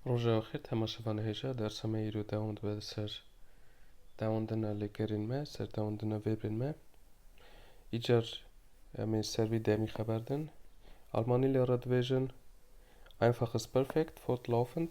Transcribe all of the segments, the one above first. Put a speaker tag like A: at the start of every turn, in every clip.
A: Roja axir temaşevan hêja dersa me îro dewam dibe li ser dewandina lêkerên me, ser dewandina vêbrên me. Îcar em ê ser vî demî xeber din. Almanî lê re dibêjin einfach ist perfekt, fortlaufend.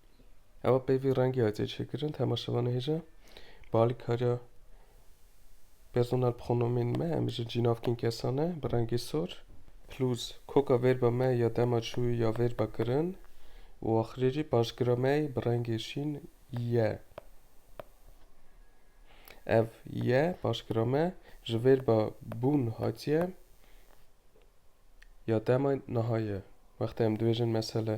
A: Ewa peyvî rengî hatiye çêkirin temaşevanê hêja bi alîkariya personel pronomên me em ji cînavkên kesan e bi rengê sor plus koka vêrba me ya dema çû ya vêrba kirin û axirê jî panjgira me bi rengê şîn ye ev ye panjgira me ji vêrba bûn hatiye ya dema niha ye wextê em dibêjin mesele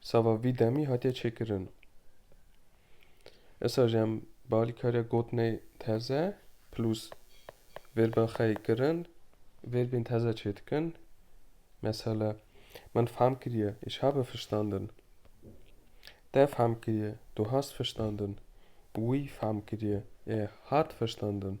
A: Sava vî demî hatiye çêkirin. Esa jî em bi alîkariya gotinê teze plus vêrbên xwe yê kirin vêrbên teze çê dikin. Mesele min fehm kiriye îşabe fiştandin. Te fehm kiriye tu hast fiştandin. Wî fehm kiriye ê hat fiştandin.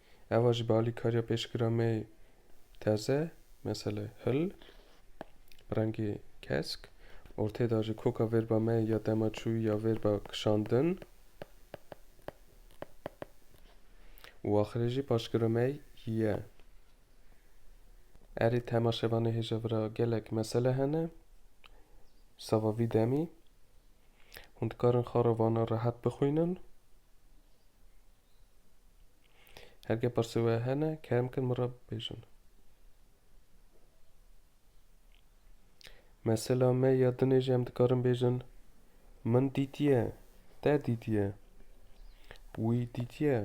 A: Eva jî bi alîkariya pêşgira me yê teze, mesele hil, bi rengê kesk, ortê da jî koka vêrba me ya dema çûyî ya vêrba kişandin û axirê jî paşgira me ye. Erê temaşevanê hêja vi ra gelek mesele hene. Sava vî demî hûn dikarin xara vana rehet bixwînin. Hergê pirsê we hene kerem kin min re bibêjin. Mesela me ya dinê jî em dikarin bêjin min dîtiye, te dîtiye, wî dîtiye,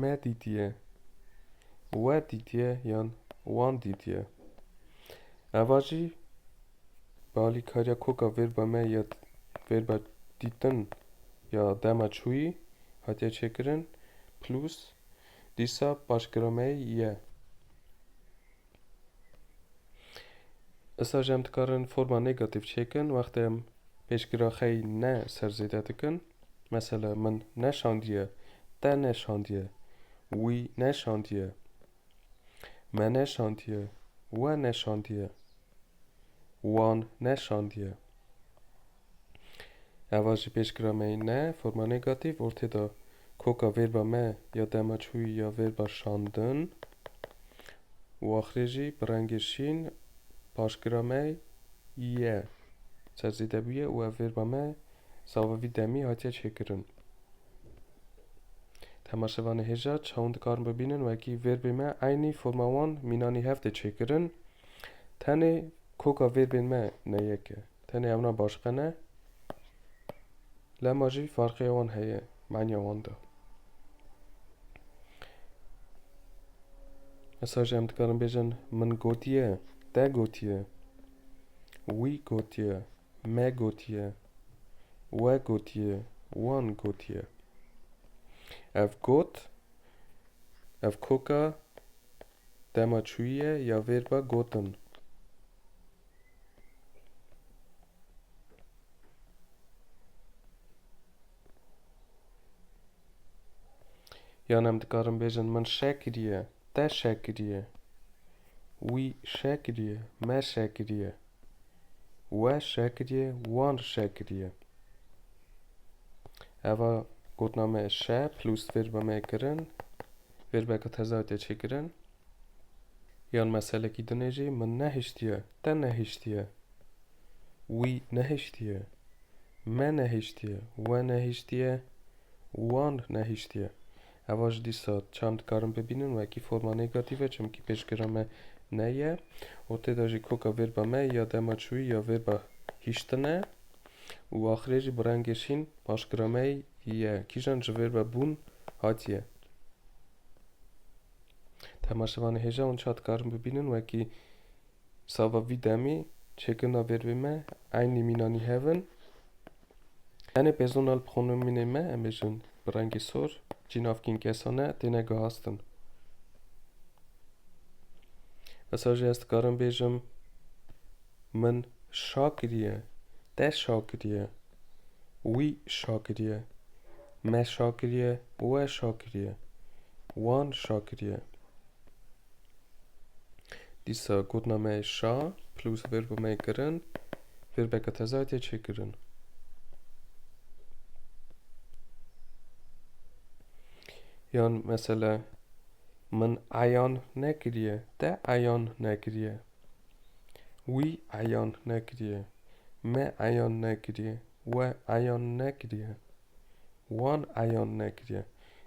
A: me dîtiye, we dîtiye yan wan dîtiye. Eva jî Bi alîkariya koka vêrba me ya vêrba dîtin ya dema çûyî hatiye çêkirin, plus dîsa paşgira me ye. Îsa jî em dikarin forma negatîf çêkin wextê em pêşgira xey ne ser zêde dikin. Mesele min neşandiye, te neşandiye, wî neşandiye. Me neşandiye. We neşandiye. Wan neşandiye. Eva jî pêşgira me yî ne forma negatîf ortê de koka vêrba me ya dema çûyî ya vêrba şandin û axirê jî bi rengê şîn paşgira me ye ser zêde bûye û ev vêrba me savevî demî hatiye çêkirin. Temaşevanê hêja çawin dikarin bibînin wekî vêrbên me eynî forma wan mînanî hev tê çêkirin. Tenê koka vêrbên me ne yek e. Tenê ewna başiqe ne. Lema jî farqeya wan heye maniya wan de. Esa jî em dikarin bêjin min gotiye, te gotiye, wî gotiye. Me gotiye, we gotiye, wan gotiye. Ev got, ev koka dema çûyiye ya vêrba gotin. Yan em dikarin bêjin min şe kiriye, te şe kiriye, wî şe kiriye, me şe kiriye. We şeh kiriye, wan şeh kiriye. Eva gotina me şeh plus verba me kirin. Verbeka teza te çêkirin. Yan meselekî dinê jî min nehiştiye, te nehiştiye. Wî nehiştiye, me nehiştiye, we nehiştiye, wan nehiştiye. Heva ji dîsa çand dikarin bibînin wekî forma negative çimkî pêşgira me ne ye û tê de jî koka vêrba me ya dema çûyî ya vêrba hîştin e û axirê jî bi rengê şîn paşgira me ye kîjan ji vêrba bûn hatiye. Temaşevanê hêja ûnca dikarin bibînin wekî Sava vî demê çêkirina vêrvê me eynî mînanî hev in. Tenê pêzona li xonimînê me em bêjin bi rengê sor cî navkîn kesane têne gihastin. Esa jî ez dikarim bêjim min şa kiriye, te şa kiriye, wî şa kiriye, me şa kiriye, we şa kiriye, wan şa kiriye. Dîsa gotina me şa plus verba me kirin verbeke teze hatiye çêkirin. Yan mesela min eyan nekiriye, te eyan nekiriye. Wî eyan nekiriye, me eyan nekiriye, we eyan nekiriye. wan eyan nekiriye.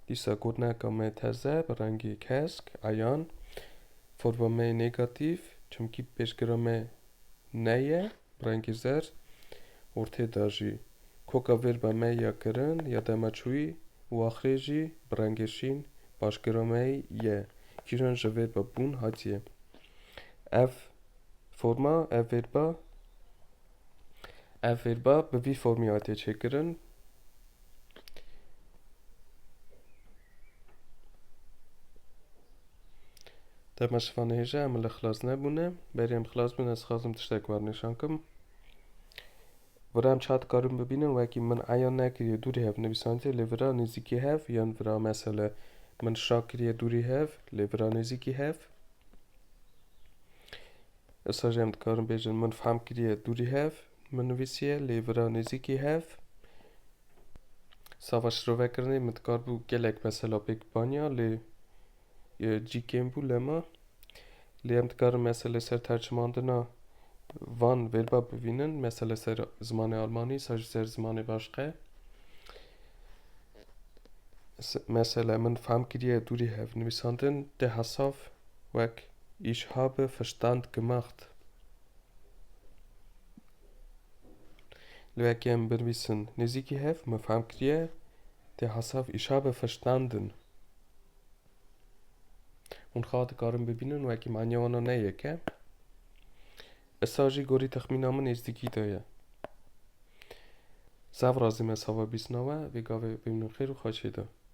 A: Dîsa gotineka me terz e bi rengê kesk, eyan, forma me yê negatîf, çimkî pêşgira me ne ye, bi rengê zerd, ortê de jî koka vêrba me ya kirin, ya dema çûyî û axirê jî bi rengê şîn paşgira me ye, kîjan ji vêrba bûn hatiye. Ev forma, ev vêrba Ev fêrba bi vî formî hatiye çêkirin. Dema şivan hêje em li xilas nebûne. Berê em xilas bin ez xwazim tiştek war nîşan kim. Vira em çat karin bibînin wekî min eyan nekiriye dûrî hev nivîsandiye lê vira nêzîkî hev yan vira mesele min şa kiriye dûrî hev lê vira nêzîkî hev. Êsaj em dikarin bêjin min fehm kiriye dûrî hev min nivîsiye lê vira nêzîkî hev sava şirovekirinê min dikaribû gelek mesela pêk baniya lê cî kêm bû lema lê em dikarin mesela li ser tercimandina van vêrba bivînin mesela li ser zimanê almanî saj li ser zimanê başqe mesela min fehm kiriye dûrî hev nivîsandin te hesav wek Ich habe Verstand gemacht. Li ber kem binivîsin nêzîkî hev min fehm kiriye tê hesav Ich habe verstanden. Hûn xah dikarin bibînin wekî manya wana ne yek e. Issa jî gorî texmîna min nêzdîkî de ye. Zaf razî me sava bîsna we vê gavê bimînin xêr û xweşî de.